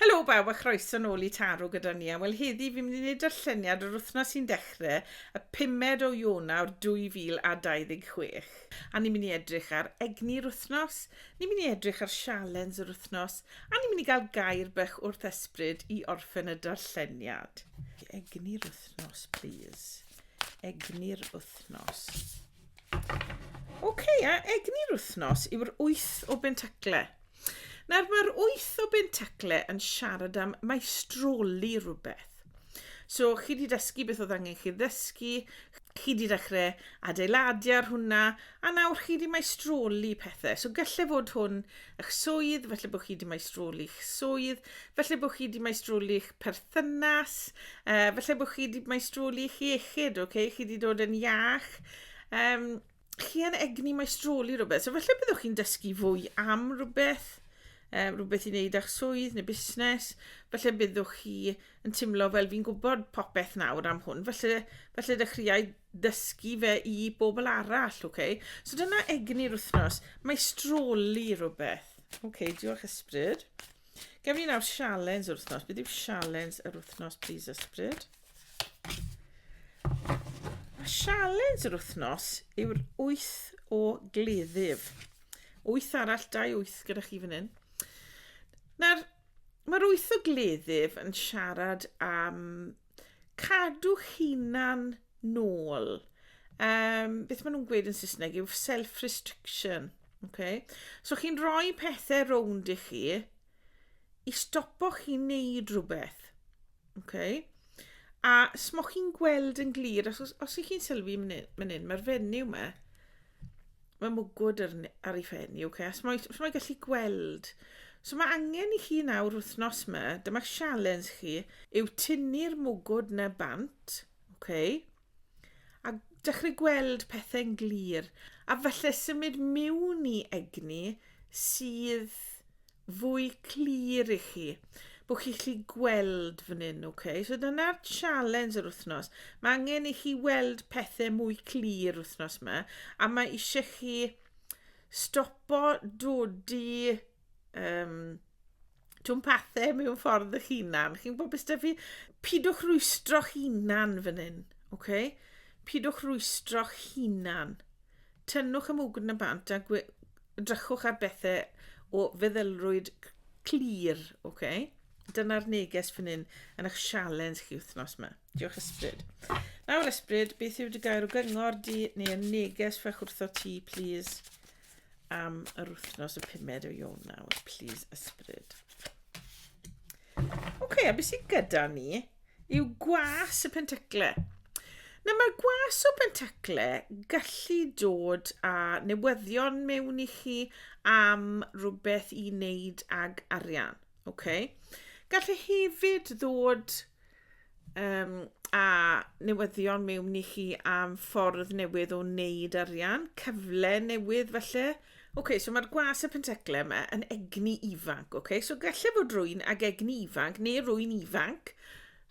Helo bawb a chroeso nôl i Taro gyda ni, a wel heddi fi'n mynd i wneud darlleniad yr wythnos sy'n dechre y pumed o Ionawr 2026. A ni'n mynd i edrych ar egni'r wythnos, ni'n mynd i edrych ar sialens yr wythnos, a ni'n mynd i gael gair bach wrth ysbryd i orffen y darlleniad. Egni'r wythnos, plîs. Egni'r wythnos. Ok, a egni'r wythnos yw'r wyth o bentacle. Nawr, mae'r wyth o bentacle yn siarad am maestroli rhywbeth. So, chi wedi dysgu beth oedd angen chi ddysgu, chi wedi dechrau adeiladu ar hwnna, a nawr chi wedi maestroli pethau. So, gallai fod hwn eich swydd, felly bod chi wedi maestroli'ch swydd, felly bod chi wedi maestroli'ch perthynas, uh, felly bod chi wedi maestroli'ch iechyd, okay? chi wedi dod yn iach. Um, chi yn egni maestroli rhywbeth, so felly byddwch chi'n dysgu fwy am rhywbeth, um, rhywbeth i wneud â'ch swydd neu busnes, felly byddwch chi yn teimlo fel fi'n gwybod popeth nawr am hwn, felly, felly dechreuau dysgu fe i bobl arall, ok? So dyna egni'r wythnos. Mae stroli rhywbeth. Ok, diolch ysbryd. Gem ni nawr sialens yr wythnos. Beth yw sialens yr wythnos, please ysbryd? A sialens yr wythnos yw'r wyth o gleddyf. Wyth arall, dau wyth gyda chi fan hyn. Nawr, mae'r wyth o gleddyf yn siarad am cadw'ch hunan nôl. Um, beth maen nhw'n gweud yn Saesneg yw self-restriction. Okay? So chi'n rhoi pethau rownd i chi i stopo chi wneud rhywbeth. Okay? A smo chi'n gweld yn glir, os, os ych chi'n sylwi mynd hyn, mae'r fenyw yma, Mae mwgwd ar, ar ei phen i, okay. Os mae, os mae gallu gweld. So mae angen i chi nawr wythnos yma, dyma'r sialens chi, yw tynnu'r mwgwd na bant, okay. A dechrau gweld pethau'n glir. A falle symud miwn i egni sydd fwy clir i chi bod chi'n gallu gweld fan hyn, ok? So dyna'r challenge yr wythnos. Mae angen i chi weld pethau mwy clir wythnos yma, a mae eisiau chi stopo dodi um, twm pathau mewn ffordd y hunan. Chi'n gwybod beth fi? Pidwch rwystro hunan fan hyn, ok? Pidwch rwystro hunan. Tynnwch y mwgwd yn bant a gwe- drychwch ar bethe o feddylrwyd c- clir, oce? Dyna'r neges fan hyn yn eich sialens chi wythnos 'ma. Diolch Ysbryd. Nawr Ysbryd, beth yw dy gair o gyngor di neu y neges fach wrtho ti, plîs, am yr wythnos y pumed o Ionawr, plîs Ysbryd. Ok, a beth sydd gyda ni yw gwas y pentacle. Na mae gwas o bentacle gallu dod â newyddion mewn i chi am rhywbeth i wneud ag arian. Okay? Gallu hefyd ddod um, a newyddion mewn ni chi am ffordd newydd o wneud arian, cyfle newydd felly. Oce, okay, so mae'r gwas y pentecle yma yn egni ifanc, oce? Okay? So gallai fod rwy'n ag egni ifanc neu rwy'n ifanc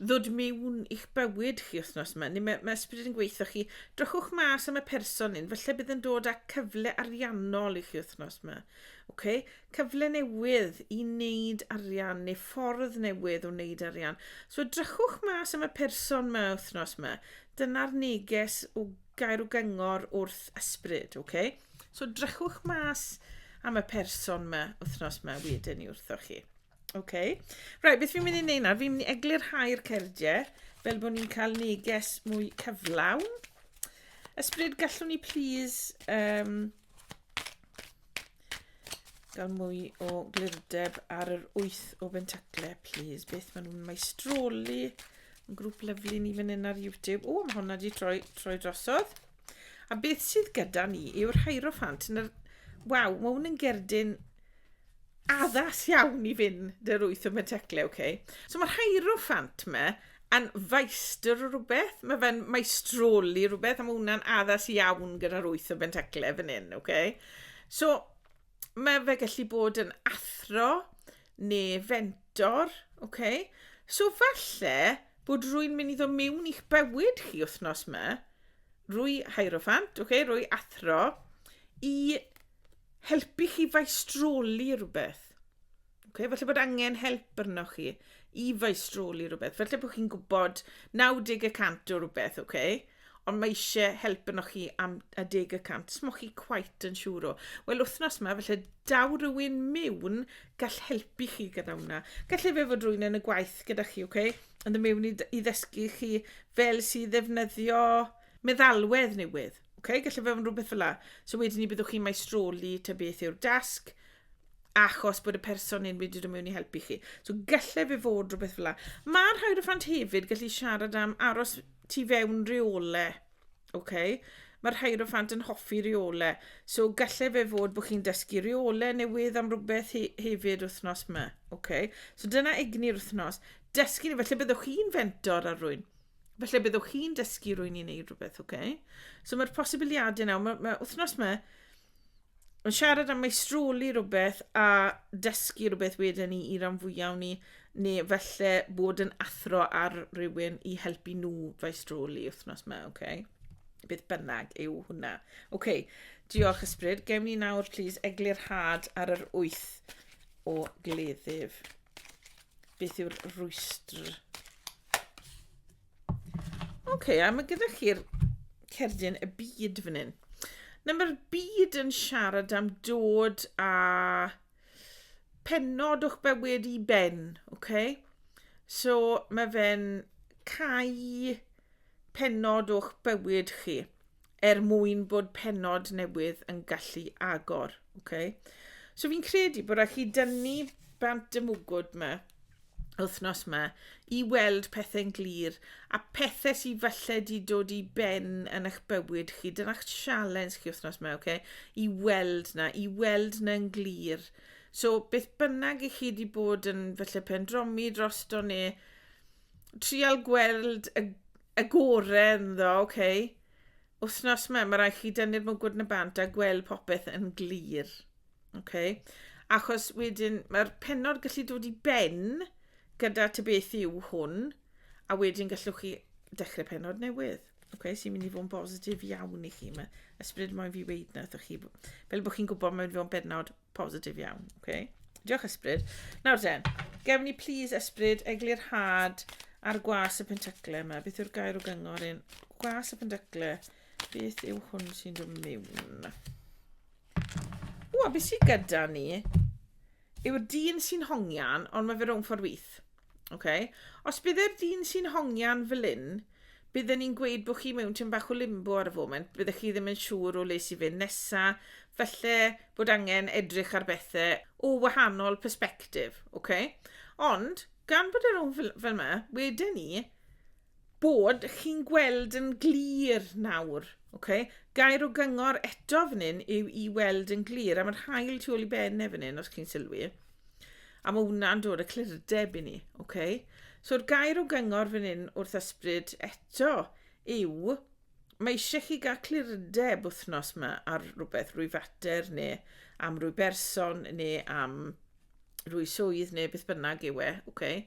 ddod mewn i'ch bywyd chi wythnos yma, neu mae, mae ysbryd yn gweithio chi, drychwch mas am y person hyn, felly bydd yn dod â cyfle ariannol i chi wythnos yma. Okay? cyfle newydd i wneud arian neu ffordd newydd o wneud arian. So edrychwch mas am y person yma wythnos yma. Dyna'r neges o gair o gyngor wrth ysbryd, oce? Okay? So drychwch mas am y person yma wythnos yma wedyn i wrthoch chi. Oce? Okay? Right, beth fi'n mynd i wneud nawr? Fi'n mynd i eglurhau'r cerdiau fel bod ni'n cael neges mwy cyflawn. Ysbryd, gallwn ni please um, gael mwy o glirdeb ar yr wyth o bentacle, please. Beth maen nhw'n maestroli. Yn grŵp lyflu ni fan hyn ar YouTube. O, mae hwnna wedi troi, troi drosodd. A beth sydd gyda ni yw'r Hierophant. Yn yr... Waw, mae hwn yn gerdyn addas iawn i fynd yr wyth o Bentecle, oce. So mae'r Hierophant me yn faestr o rhywbeth, mae fe'n maestroli rhywbeth, a mae hwnna'n addas iawn gyda'r wyth o Bentecle fan hyn, oce. So mae fe gallu bod yn athro neu fentor, oce. So falle bod rwy'n mynd i ddod mewn i'ch bywyd chi wythnos me, rwy Hierophant, oce, rwy athro, i helpu chi faistroli rhywbeth. Okay, falle bod angen help arnoch chi i faistroli rhywbeth. Falle bod chi'n gwybod 90 y cant o rhywbeth, okay? ond mae eisiau help arnoch chi am a deg y cant. Smoch chi quite yn siŵr o. Wel, wythnos yma, felly daw rhywun mewn gall helpu chi gyda hwnna. Gallai fe fod rhywun yn y gwaith gyda chi, okay? yn y mewn i, i ddysgu chi fel sydd ddefnyddio meddalwedd newydd. Okay, gallu fe fod yn rhywbeth fel la. So wedyn ni byddwch chi'n maestroli ta beth yw'r dasg, achos bod y person hyn wedi dod mewn i helpu chi. So gallai fe fod rhywbeth fel la. Mae rhai o'r ffant hefyd gallu siarad am aros tu fewn reole. Okay? Mae rhai o'r ffant yn hoffi reole. So gallai fe fod bod chi'n dysgu reole newydd am rhywbeth he hefyd wythnos yma. Okay? So dyna egni'r wythnos. Dysgu, felly byddwch chi'n fentor ar rwy'n. Felly byddwch chi'n dysgu rwy'n i'n neud rhywbeth, oce? Okay? So mae'r posibiliadau nawr, mae, mae wythnos yma yn siarad am meistroli rhywbeth a dysgu rhywbeth wedyn ni i ran fwyaf ni, neu felly bod yn athro ar rywun i helpu nhw feistroli wythnos yma, oce? Okay? Beth bynnag yw hwnna. Oce, okay, diolch ysbryd. Gewn ni nawr, please, eglurhad ar yr wyth o gleddyf. beth yw'r rwystr. Oce, okay, a mae gyda chi'r cerdyn y byd fan hyn. Na mae'r byd yn siarad am dod a penod o'ch bywyd i ben, oce? Okay? So mae fe'n cau pennod o'ch bywyd chi er mwyn bod pennod newydd yn gallu agor. Okay? So fi'n credu bod rhaid chi dynnu bant y mwgwd yma wythnos yma i weld pethau'n glir a pethau sydd falle di dod i ben yn eich bywyd chi. Dyna'ch sialens chi wythnos yma, okay? i weld na, i weld na'n glir. So beth bynnag i chi wedi bod yn falle pendromi drosto neu trial gweld y, y gore ynddo, oce. Okay. Wthnos yma, mae rhaid chi dynnu'r mwgwd yn y bant a gweld popeth yn glir. Oce. Okay. Achos wedyn, mae'r penod gallu dod i ben gyda ty beth yw hwn, a wedyn gallwch chi dechrau penod newydd. Oce, okay, sy'n mynd i fod yn bositif iawn i chi. Mae ysbryd moyn fi weid na, chi. Fel bod chi'n gwybod, mae'n fod yn benod Positif iawn, oce. Okay. Diolch ysbryd. Nawr ten, gewn ni plis ysbryd eglurhad ar gwas y pentyglau yma. Beth yw'r gair o gyngor un? Gwas y pentyglau. Beth yw hwn sy'n dod mewn? O, a beth sy'n gyda ni? Yw'r dyn sy'n hongian, ond mae fe rhwng ffordd wyth. Oce. Os bydd e'r dyn sy'n hongian fel hyn, bydden ni'n gweud bod chi mewn tyn bach o limbo ar y foment, byddech chi ddim yn siŵr o le sy'n fynd nesa, felly bod angen edrych ar bethau o wahanol perspektif, oce? Ond, gan bod e'r rhwng fel, fel yma, wedyn ni, bod chi'n gweld yn glir nawr. Okay? Gair o gyngor eto fan hyn yw i weld yn glir, a mae'r hael tu ôl i benne fan hyn, os chi'n sylwi. A mae hwnna'n dod y clyrdeb i ni. Okay? So'r gair o gyngor fan hyn wrth ysbryd eto yw mae eisiau chi gael clyrdeb wythnos yma ar rhywbeth, rwy fater neu am rwy berson neu am rwy swydd neu beth bynnag yw e, okay.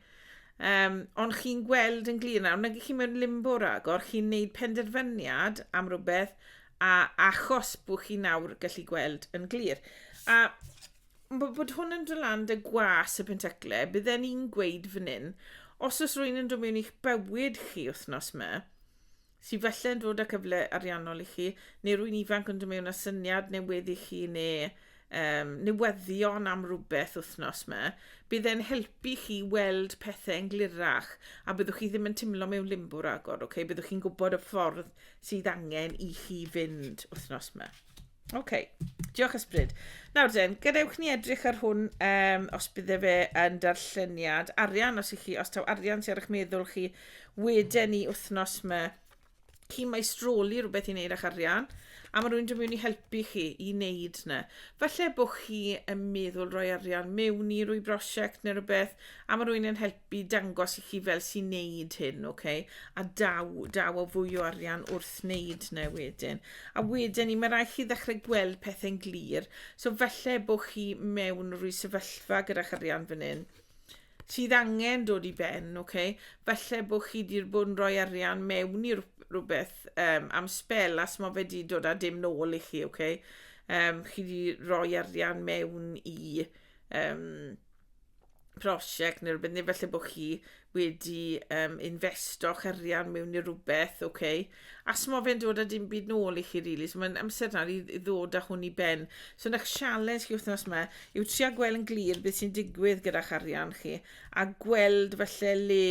Um, ond chi'n gweld yn glir nawr, nag chi mewn limbo ragor, chi'n neud penderfyniad am rhywbeth a achos bod chi nawr gallu gweld yn glir. A bod hwn yn dod lan dy gwas y pentaclau, bydden ni'n gweud fan hyn, os oes rwy'n yn dod mewn i'ch bywyd chi wythnos yma, Sydd falle yn dod â cyfle ariannol i chi, neu rwy'n ifanc yn dod mewn â syniad newydd i chi neu um, newyddion am rhywbeth wythnos yma, bydd e'n helpu chi weld pethau yn glirach a byddwch chi ddim yn teimlo mewn limbo ragor, okay? byddwch chi'n gwybod y ffordd sydd angen i chi fynd wythnos yma. OK. Diolch Ysbryd. Nawr den, gadewch ni edrych ar hwn um, os bydde fe yn darlleniad arian, os i chi, os taw arian sy'n ar eich meddwl chi, wedyn ni wythnos yma, chi mae stroli rhywbeth i wneud â'ch arian, a mae rhywun yn mynd i helpu chi i wneud yna. Falle bod chi yn meddwl rhoi arian mewn i rwy brosiect neu rhywbeth, a mae rhywun yn helpu Bydd dangos i chi fel sy'n neud hyn, ok? A daw, daw o fwy o arian wrth neud na e wedyn. A wedyn ni, mae rhaid chi ddechrau gweld pethau'n glir. So felly bod chi mewn rhywun sefyllfa gyda'ch arian fan hyn sydd angen dod i ben, ok? Felly bod chi wedi bod yn rhoi arian mewn i rhywbeth um, am spel a smo fe di dod a dim nôl i chi, ok? Um, chi wedi rhoi arian mewn i... Um, prosiect neu rhywbeth, neu felly bod chi wedi um, investo'ch arian mewn i rhywbeth, oce? Okay? A smo fe'n dod â dim byd nôl i chi, rili. Really. So mae'n amser nawr i, i ddod â hwn i ben. So yna challenge chi wythnos yma yw trio gweld yn glir beth sy'n digwydd gyda'ch arian chi a gweld felly le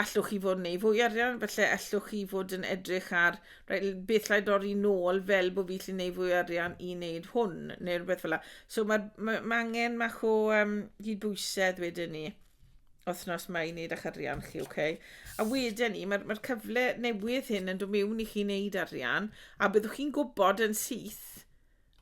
allwch chi fod yn ei fwy arian, felly allwch chi fod yn edrych ar right, beth lle dorri nôl fel bod fi lle neu fwy arian i wneud hwn, neu rhywbeth fel la. So mae ma, ma angen mach o um, gydbwysedd wedyn ni wythnos mae i wneud â'ch arian chi, oce? Okay? A wedyn ni, mae'r ma cyfle newydd hyn yn dod mewn i chi wneud arian, a byddwch chi'n gwybod yn syth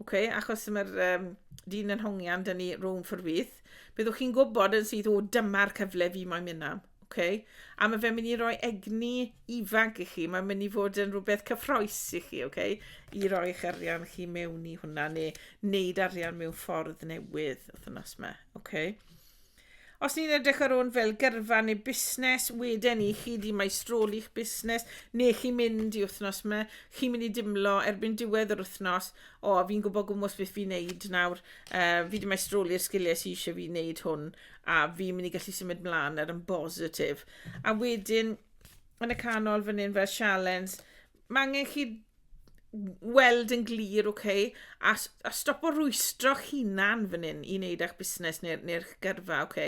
Ok, achos mae'r um, dyn yn hongian, dyn ni room for fydd. Byddwch chi'n gwybod yn sydd, o, dyma'r cyfle fi mae'n mynd am. Okay? A mae fe'n mynd i roi egni ifanc i chi. Mae'n mynd i fod yn rhywbeth cyffroes i chi, okay? i roi eich arian chi mewn i hwnna, neu wneud arian mewn ffordd newydd wythnos yma. Okay? Os ni'n edrych ar hwn fel gyrfa neu busnes, wedyn i chi di maestroli'ch busnes, neu chi'n mynd i wythnos yma, chi'n mynd i dimlo erbyn diwedd yr wythnos, o, fi'n gwybod gwmwys beth fi'n neud nawr, uh, fi di maestroli'r sgiliau sy'n eisiau fi wneud hwn, a fi'n mynd i gallu symud mlaen ar yn bositif. A wedyn, yn y canol fan hyn fel sialens, mae angen chi weld yn glir, ok, a, a stop o rwystro'ch hunan fan hyn i wneud eich busnes neu'r neu, neu gyrfa, ok?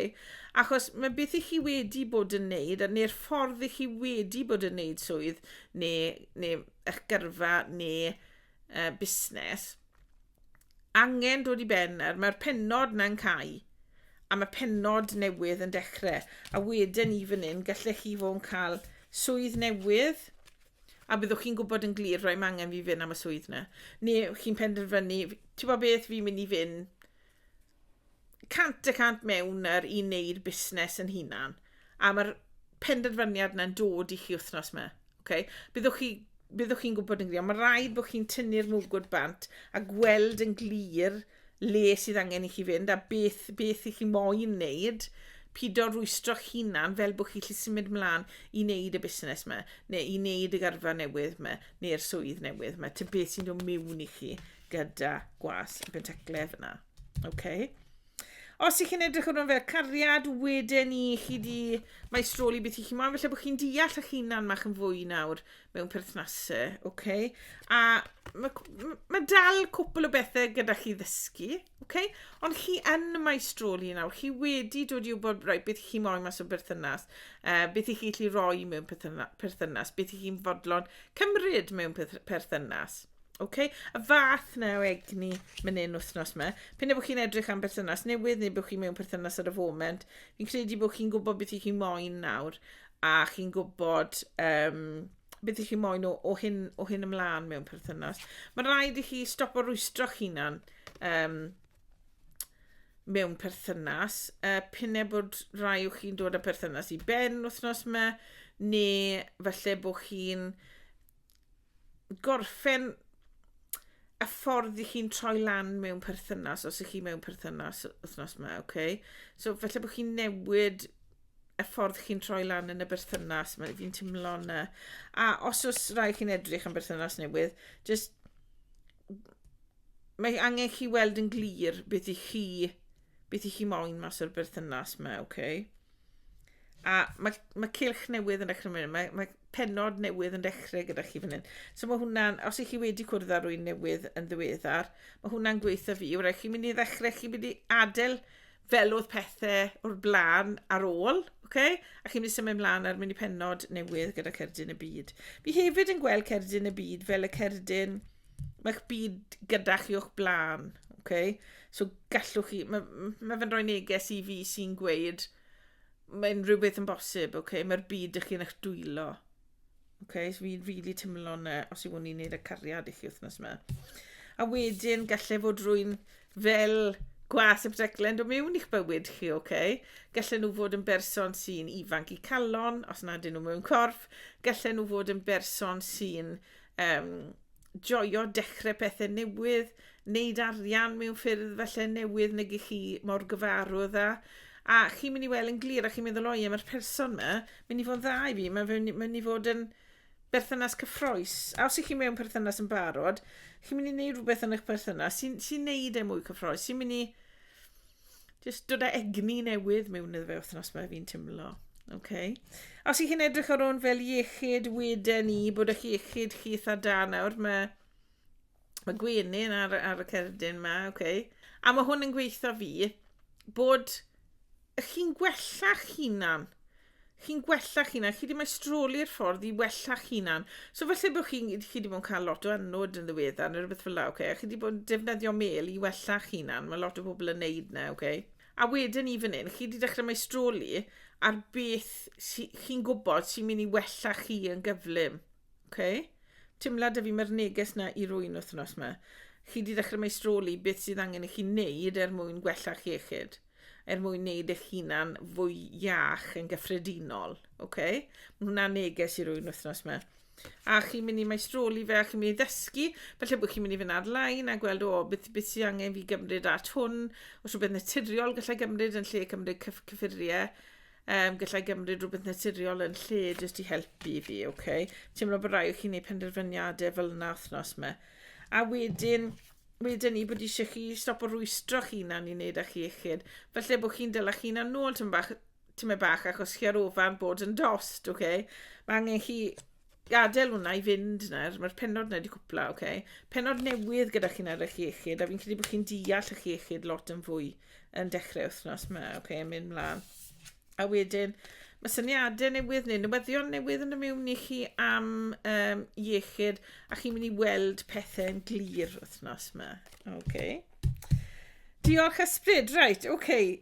Achos mae beth i chi wedi bod yn wneud, neu'r ffordd i chi wedi bod yn wneud swydd, neu, neu eich gyrfa, neu uh, busnes, angen dod i ben nawr. Mae'r penod na'n cael a mae penod newydd yn dechrau. A wedyn i fan hyn, gallech chi fod yn cael swydd newydd, a byddwch chi'n gwybod yn glir roi mangen fi fynd am y swydd na. Neu chi'n penderfynu, ti'n bod beth fi'n mynd i fynd cant y cant mewn yr i wneud busnes yn hunan. A mae'r penderfyniad na'n dod i chi wythnos yma. Okay? Byddwch chi byddwch chi'n gwybod yn glir. Mae rhaid bod chi'n tynnu'r mwgwd bant a gweld yn glir le sydd angen i chi fynd a beth, beth i chi moyn wneud, pido rwystro'ch hunan fel bod chi chi symud mlaen i wneud y busnes yma, neu i wneud y garfa newydd yma, neu'r swydd newydd yma. Ti'n beth sy'n dod mewn i chi gyda gwas y pentaclef yna. Okay? Os ych chi'n edrych ar hwn fel cariad, wedyn ni chi di maestroli beth i chi moyn, felly bod chi'n deall eich hunan mach yn fwy nawr, mewn perthnasau, oce? Okay? A mae ma dal cwpl o bethau gyda chi ddysgu, oce? Okay? Ond chi yn y maestroli nawr, chi wedi dod i wybod roi beth chi moyn mas o berthynas, uh, beth i chi allu roi mewn perthynas, beth i chi'n fodlon cymryd mewn perthynas. Okay? Y fath na o egni mynd un wythnos yma. Pyn efo chi'n edrych am berthynas newydd neu bod chi mewn perthynas ar y foment, fi'n credu bod chi'n gwybod beth i chi moyn nawr. a chi'n gwybod um, beth ych chi moyn o, o, hyn, o hyn ymlaen mewn perthynas. Mae'n rhaid i chi stop o rwystro'ch hunan um, mewn perthynas. Uh, Pynne bod rhai o'ch chi'n dod â perthynas i ben wythnos yma, neu falle bod chi'n gorffen y ffordd i chi'n troi lan mewn perthynas, os ych chi mewn perthynas wythnos yma, oce? Okay? So, felly bod chi'n newid y ffordd chi'n troi lan yn y berthynas, mae fi'n teimlo yna. A os oes rai chi'n edrych am berthynas newydd, just... Mae angen chi weld yn glir beth i chi beth i chi moyn mas o'r berthynas mae, oce? Okay? A mae, mae cilch newydd yn dechrau mynd, mae, mae penod newydd yn dechrau gyda chi fan hyn. So mae hwnna'n, os ych chi wedi cwrdd â rwy'n newydd yn ddiweddar, mae hwnna'n gweithio fi. Wrach, chi'n mynd i ddechrau, chi'n mynd i adael fel oedd pethau o'r blaen ar ôl, okay? a chi'n mynd i symud mlaen ar mynd i penod newydd gyda Cerdyn y Byd. Fi hefyd yn gweld Cerdyn y Byd fel y Cerdyn Mae'ch byd gyda chi o'ch blaen, okay? So gallwch chi... Mae ma fe'n rhoi neges i fi sy'n gweud mae unrhyw beth yn bosib, okay? Mae'r byd ych chi'n eich dwylo. Okay? So fi'n rili really teimlo yna os yw hwn i'n neud y cariad i chi wythnos yma. A wedyn gallai fod rwy'n fel gwas y breglen dod mewn i'ch bywyd chi, oce? Okay? Gallen nhw fod yn berson sy'n ifanc i calon, os nad ydyn nhw mewn corff. Gallen nhw fod yn berson sy'n um, joio dechrau pethau newydd, wneud arian mewn ffyrdd felly newydd nag i chi mor gyfarwydd â. A chi'n mynd i weld yn glir a chi'n meddwl, oi, mae'r person yma, mynd i fod yn dda i fi, mae'n mynd, mynd i fod yn berthynas cyffroes. A os ych chi'n mewn perthynas yn barod, chi'n mynd i wneud rhywbeth yn eich perthynas sy'n sy wneud e mwy cyffroes, sy'n mynd i Just dod â egni newydd mewn iddo fe wythnos mae fi'n timlo. Okay. Os i chi'n edrych ar hwn fel iechyd weden i bod eich iechyd chi eitha da nawr, mae, mae gwenyn ar, ar y cerdyn yma, okay. a mae hwn yn gweithio fi bod chi'n gwella'ch hunan. chi'n gwella'ch hunan, chi wedi maestroli'r ffordd i wella'ch hunan. So falle bod chi, chi wedi bod yn cael lot o anwyd yn ddiweddar neu rhywbeth fel la, okay? a chi wedi bod yn defnyddio mel i wella'ch hunan, mae lot o bobl yn neud na, okay? A wedyn i fan hyn, chi wedi dechrau maestroli ar beth si, chi'n gwybod sy'n mynd i wella chi yn gyflym. Okay? Timlad y fi mae'r neges na i rwy'n wythnos yma. Chi wedi dechrau maestroli beth sydd angen i chi wneud er mwyn gwella'r chiechyd. er mwyn wneud eich hunan fwy iach yn gyffredinol. Okay? Mae hwnna'n neges i rwy'n wythnos yma. A chi'n mynd i maestroli fe a chi'n mynd i ddysgu, felly bod chi'n mynd i fynd ar-lein a gweld o beth, beth sydd angen fi gymryd at hwn, os rhywbeth naturiol gallai gymryd yn lle cymryd cyff, cyffuriau, um, gallai gymryd rhywbeth naturiol yn lle jyst i helpu fi, oce? Okay? Teimlo bod rai o chi'n gwneud penderfyniadau fel yna wythnos yma. A wedyn, wedyn ni bod eisiau chi stop o rwystro chi na ni'n neud â chi iechyd. Felly bod chi'n dylech chi'n anol tymau bach, tymau bach achos chi ar ofan bod yn dost, oce? Okay? Mae angen chi gadael hwnna i fynd nawr, mae'r penod yna wedi cwpla, oce? Okay? Penod newydd gyda chi'n ar eich iechyd, a fi'n credu bod chi'n deall eich iechyd lot yn fwy yn dechrau wythnos yma, oce, okay? mynd mlaen. A wedyn, mae syniadau newydd neu newyddion newydd yn y mewn i chi am um, iechyd a chi'n mynd i weld pethau yn glir wythnos yma. Okay. Diolch ysbryd, right, okay.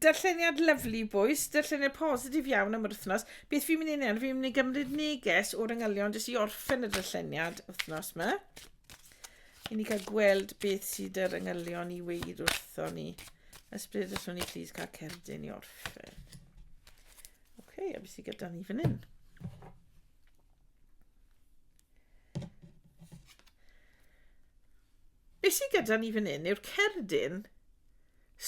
Darlleniad lyflu bwys, darlleniad positif iawn am yr wythnos. Beth fi'n mynd i wneud, fi'n mynd i gymryd neges o'r yngylion jyst i orffen y darlleniad wythnos yma. I ni cael gweld beth sydd yr yngylion i weir wrtho ni. Ysbryd os o'n i plîs cael cerdyn i orffen. Oce, okay, a beth sydd gyda ni fan hyn? Beth sydd gyda ni fan hyn yw'r cerdyn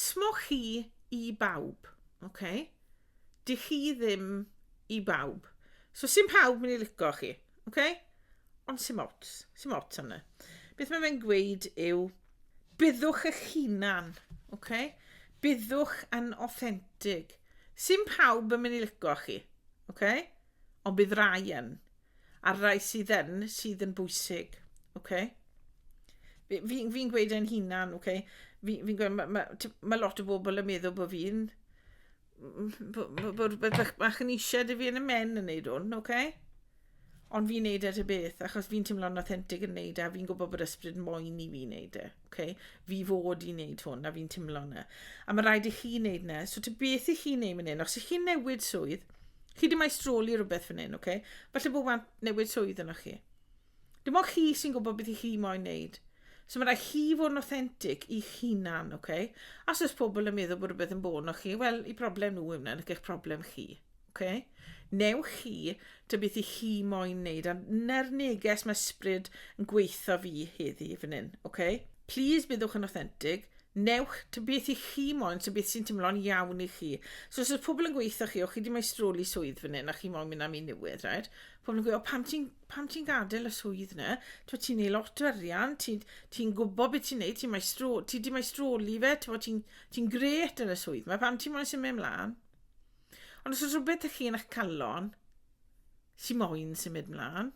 smochi i bawb. Okay? Dych chi ddim i bawb. So sy'n pawb mynd i lico chi. Okay? Ond sy'n ots. Sy'n ots am Beth mae fe'n gweud yw, byddwch eich hunan. Okay? Byddwch yn authentic. Sy'n pawb yn mynd i lico chi. Okay? Ond bydd rai yn. a'r rai sydd yn, sydd yn bwysig. Okay? Fi'n fi, fi gweud e'n hunan, okay? fi'n fi gweud, mae ma, ma lot o bobl yn meddwl bod fi'n bod rhywbeth bach yn eisiau dy fi yn y men yn neud hwn, oce? Okay? Ond fi'n neud e ty beth, achos fi'n teimlo'n authentic yn neud e, a fi'n gwybod bod ysbryd moyn i fi neud e. okay, fi fod i wneud hwn, a fi'n timlo yna. A mae rhaid i chi wneud yna. So ti beth i chi wneud fan hyn? Os ych chi'n newid swydd, chi ddim a'i stroli rhywbeth fan hyn, okay? Falle bod wan newid swydd yna chi. Dim ond chi sy'n gwybod beth i chi moyn wneud. So mae rhaid chi fod yn authentic i hunan, okay? Os oes pobl yn meddwl bod rhywbeth yn bod o'ch chi, wel, i broblem nhw yw wna, eich broblem chi. Ok? Neu chi, ta beth i chi moyn wneud. A na'r neges mae ysbryd yn gweithio fi heddi fan hyn. Ok? Please byddwch yn authentic. Newch ta beth i chi moyn, ta beth sy'n teimlo'n iawn i chi. So os oes pobl yn gweithio chi, o chi di mae stroli swydd fan hyn a chi moyn mynd am un newydd, right? Pobl yn gweithio, o pam ti'n pam ti'n gadael y swydd na? Ti'n ti neud lot o arian, ti'n ti gwybod beth ti'n neud, ti'n mae stro, ti di mae stroli fe, ti'n ti, ti gret yn y swydd mae, pam ti'n moyn symud ymlaen? Ond os oes rhywbeth ych chi yn eich calon sy'n moyn symud mlaen,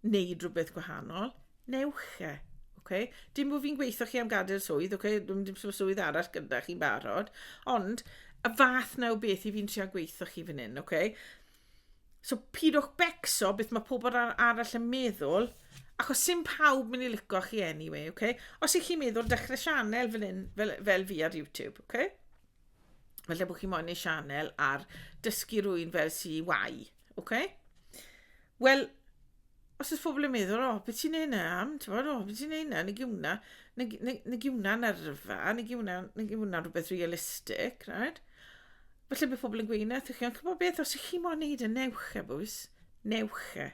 wneud rhywbeth gwahanol, newch e. Okay? Dim bod fi'n gweithio chi am gadael swydd, okay? dim, dim swydd arall gyda chi'n barod, ond y fath na o beth i fi'n trio gweithio chi fan hyn, okay? So pidwch becso beth mae pobl arall yn meddwl, achos sy'n pawb mynd i licio chi anyway, okay? Os ych chi'n meddwl dechrau sianel fel, fel, fel fi ar YouTube, okay? Falle bod chi moyn neu sianel ar dysgu rwy'n fel si wai. Okay? Wel, os ys pobl yn meddwl, o, beth ti'n neud na am? Ti'n bod, o, beth ti'n neud na? Negi hwnna, negi hwnna yn arfa, negi hwnna, negi hwnna rhywbeth realistic, right? Felly bydd pobl yn gweud na, chi'n gwybod beth, os ych chi moyn neud y newch e, bwys, newch e.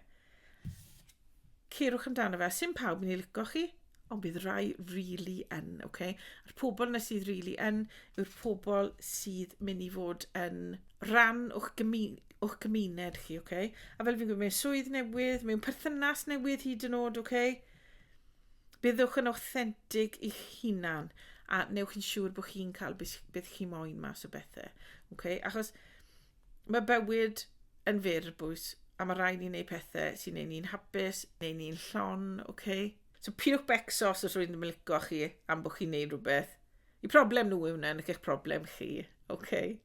Cerwch amdano fe. Sim pawb yn ei lico chi, ond bydd rai really yn, oce? Okay? A'r pobl na sydd really yn yw'r pobl sydd mynd i fod yn rhan o'ch, gymu o'ch gymuned chi, oce? Okay? A fel fi'n gwybod, mewn swydd newydd, mewn perthynas newydd hyd yn oed, oce? Okay? Byddwch yn authentic i'ch hunan a newch yn siŵr bod chi'n cael beth chi moyn mas o bethau. Okay? Achos Mae bywyd yn fyr bwys a mae rhaid ni wneud pethau sy'n neud ni'n hapus, neud ni'n llon, oce? Okay? So piwch becso os ydych chi'n licio chi am bod chi'n neud rhywbeth. Y problem nhw yw hwnna, nid eich problem chi, oce? Okay?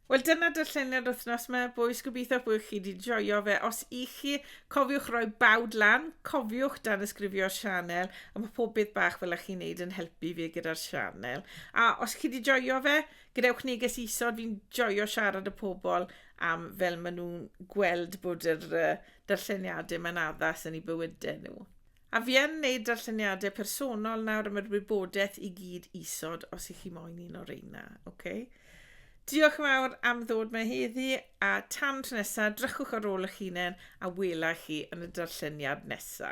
Wel dyna darlleniad wythnos yma, bwys gobeithio bod chi wedi joio fe. Os i chi, cofiwch roi bawd lan, cofiwch dan ysgrifio'r sianel, a mae pob beth bach fel ych chi'n neud yn helpu fi gyda'r sianel. A os chi wedi joio fe, gadewch neges isod, fi'n joio siarad y pobl am fel maen nhw'n gweld bod yr uh, darlleniadau mae'n addas yn ei bywydau nhw. A fi yn neud darlleniadau personol nawr am yr wybodaeth i gyd isod os ych chi moyn un o'r reina. Okay? Diolch yn fawr am ddod mae heddi a tan tro nesa, drychwch ar ôl eich hunain a wela chi yn y darlleniad nesa.